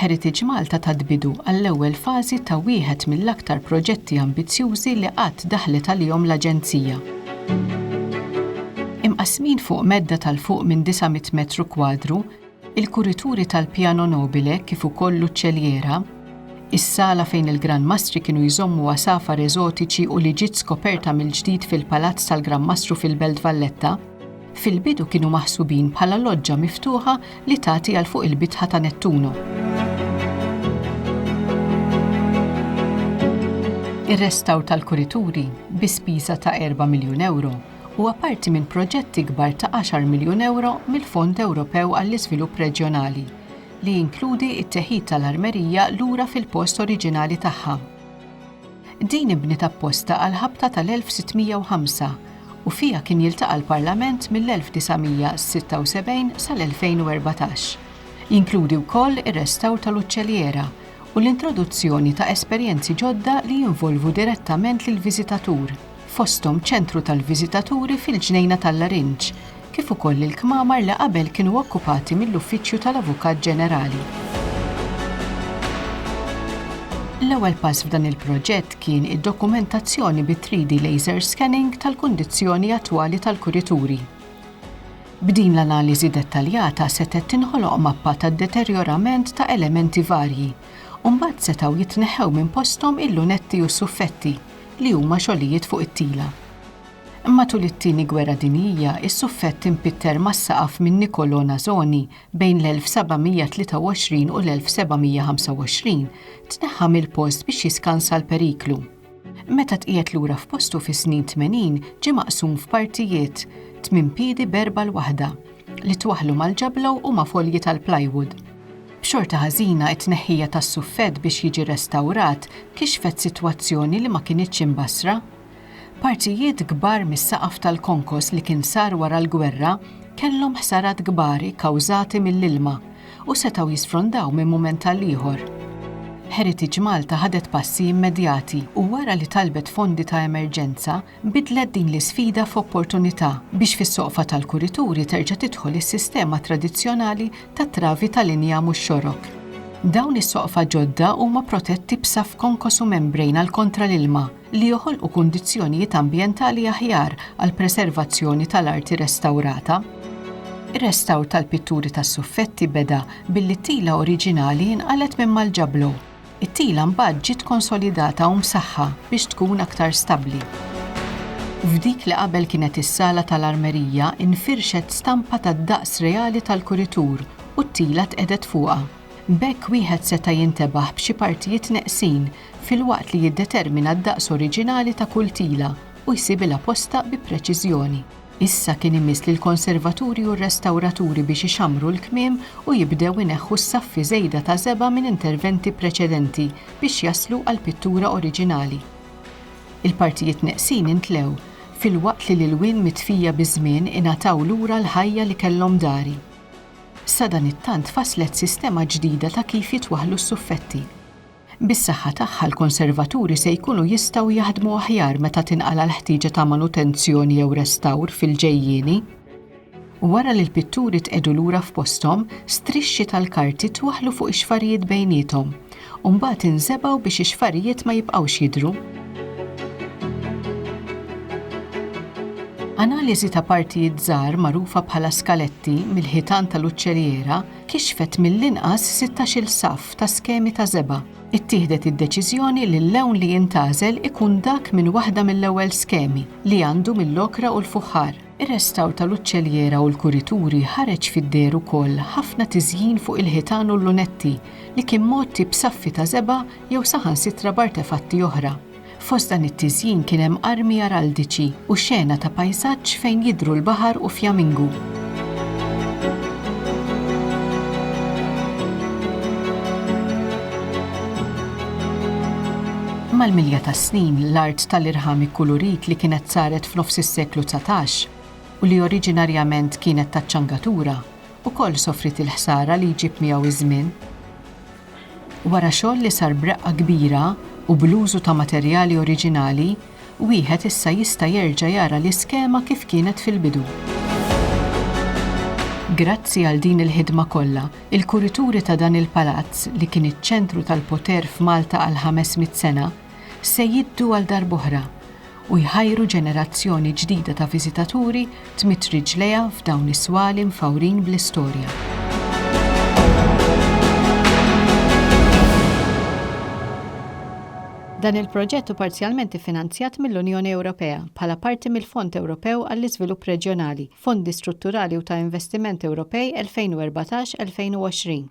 Heritage Malta tat bidu għall-ewwel fażi ta' wieħed mill-aktar proġetti ambizzjużi li qatt daħlet għalihom l-Aġenzija. Imqassmin fuq medda tal fuq minn 900 metru kwadru, il-kurituri tal-Piano Nobile kif ukoll l-uċċelliera, is-sala fejn il-Gran Mastri kienu jżommu għasafar eżotiċi u li ġiet skoperta mill-ġdid fil-Palazz tal-Gran Mastru fil-Belt Valletta, Fil-bidu kienu maħsubin bħala loġġa miftuħa li tagħti għal fuq il-bitħa ta' Nettuno. Ir-restawr tal-kurituri bi spiża ta' 4 miljun ewro huwa parti minn proġett ikbar ta' 10 miljun ewro mill-Fond Ewropew għall-Iżvilupp Reġjonali li jinkludi t-teħid tal-armerija lura fil-post oriġinali tagħha. Din inbniet apposta għall-ħabta tal-1605 u fiha kien jiltaqa' l-Parlament mill-1976 sal-2014. Jinkludi wkoll ir-restawr tal-uċċelliera u l-introduzzjoni ta' esperjenzi ġodda li jinvolvu direttament lill-viżitatur, fosthom ċentru tal-viżitaturi fil-Ġnejna tal-Larinġ, kif ukoll lill-kmamar li qabel kienu okkupati mill-Uffiċċju tal-Avukat Ġenerali. L-ewwel pass f'dan il-proġett kien id-dokumentazzjoni bi 3D laser scanning tal-kundizzjoni attwali tal-kurituri. B'din l-analiżi dettaljata setgħet tinħoloq mappa tad-deterjorament ta' elementi varji, u mbagħad setgħu jitneħħew minn posthom il-lunetti u s-suffetti, li huma xogħlijiet fuq it-tila. Matul it-Tieni Gwerra Dinjija, is-suffett impitter mas-saqaf minn Niccolò Nasoni bejn l-1723 u l-1725 tneħħa mill-post biex jiskansa l-periklu. Meta tqiegħed lura f'postu fis-snin tmenin ġie maqsum f'partijiet, tmien piedi b'erbgħa l-waħda, li twaħħlu mal-ġablow u ma' folji tal-plywood. B'xorta ħażina, it-tneħħija tas-suffett biex jiġi restawrat kixfet sitwazzjoni li ma kinitx imbassra. Partijiet kbar mis-saqaf tal-konkos li kien sar wara l-gwerra kellhom ħsarat kbar ikkawżati mill-ilma u setgħu jisfrondaw minn mument għal ieħor. Heritage Malta ħadet passi immedjati u wara li talbet fondi ta' emerġenza bidlet din l-isfida f'opportunità biex fis-soqfa tal-kurituri terġa' tidħol is-sistema tradizzjonali tat-travi tal-injam u x-xorok. Dawn is-soqfa ġodda huma protetti b'saff konkos u membrane għal kontra l-ilma li joħolqu kundizzjonijiet ambjentali aħjar għall-preservazzjoni tal-arti restawrata. Ir-restawr tal-pitturi tas-suffetti beda billi t-tila oriġinali nqalgħet minn Malġablo. It-tila mbagħad ġiet konsolidata u msaħħa biex tkun aktar stabbli. F'dik li qabel kienet is-sala tal-armerija nfirxet stampa tad-daqs reali tal-kuritur u t-tila tqegħdet fuqha. B'hekk wieħed seta' jintebaħ b'xi partijiet neqsin filwaqt li jiddetermina d-daqs oriġinali ta' kull tila u jsibilha postha bi preċiżjoni. Issa kien imiss lill-konservaturi u r-restawraturi biex ixammru l-kmiem u jibdew ineħħu s-saffi żejda ta' żebgħa minn interventi preċedenti biex jaslu għall-pittura oriġinali. Il-partijiet neqsin intlew, filwaqt li l-ilwien mitfija biż-żmien ingħataw lura l-ħajja li kellhom dari. Sadanittant tfasslet sistema ġdida ta' kif jitwaħħlu s-suffetti. Bis-saħħa tagħha l-konservaturi se jkunu jistgħu jaħdmu aħjar meta tinqala' l-ħtieġa ta' manutenzjoni jew restawr fil-ġejjieni. Wara li l-pitturi tqiegħdu lura f'posthom, strixxi tal-karti twaħħlu fuq ix-xfarijiet bejniethom, u mbagħad inżebgħu biex ix-xfarijiet ma jibqgħux jidhru. Analiżi ta' partijiet żgħar magħrufa bħala skaletti mill-ħitan tal-uċċeliera, kixfet mill-inqas sittax-il saff ta' skemi ta' żebgħa. Ittieħdet id-deċiżjoni li l-lewn li jintgħażel ikun dak minn waħda mill-ewwel skemi, li għandu mill-okra u l-fuħħar. Ir-restawr tal-uċċelliera u l-kurituri ħareġ fid-deher ukoll ħafna tiżjin fuq il-ħitan u l-lunetti, li kien mgħotti b'saffi ta' żebgħa jew saħansitra b'artefatti oħra. Fost dan it-tiżjin kien hemm armi araldiċi u xena ta' pajsaġġ fejn jidhru l-baħar u fjamingu. Mal-milja tas-snin, l-art tal-irħam ikkulurit li kienet saret f'nofs is-seklu dsatax, u li oriġinarjament kienet taċ-ċangatura, ukoll sofriet il-ħsara li jġib miegħu ż-żmien. Wara xogħol li sar b'reqqa kbira u bl-użu ta' materjali oriġinali, wieħed issa jista' jerġa' jara l-iskema kif kienet fil-bidu. Grazzi għal din il-ħidma kollha, il-kurituri ta' dan il-palazz li kien iċ-ċentru tal-poter f'Malta għal ħames mitt sena, se jiddu għal darb'oħra, u jħajru ġenerazzjoni ġdida ta' viżitaturi tmidd riġlejha f'dawn is-swali mfawrin bl-istorja. Dan il-proġett hu parzjalment iffinanzjat mill-Unjoni Ewropea bħala parti mill-Fond Ewropew għall-Iżvilupp Reġjonali, Fondi Strutturali u ta' Investiment Ewropej 2014-2020.